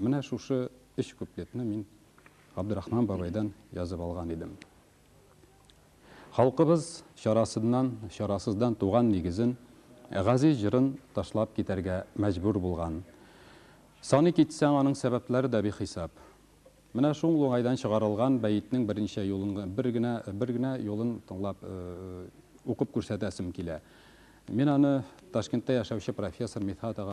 Менә шушы өч куплетны мин Габдрахман бабайдан язып алган идем. Халкыбыз чарасыннан, чарасыздан туган нигезен, газиз җырын ташлап китәргә мәҗбүр булган. Саный китсәң, аның сәбәпләре дә бихисап. Менә шуңл уңайдан чыгарылган бәетнең берничә юлын г бер генә бер генә юлын тыңлап укып күрсәтәсем килә. Мин аны Ташкентта яшәүче профессор Мидхәт ага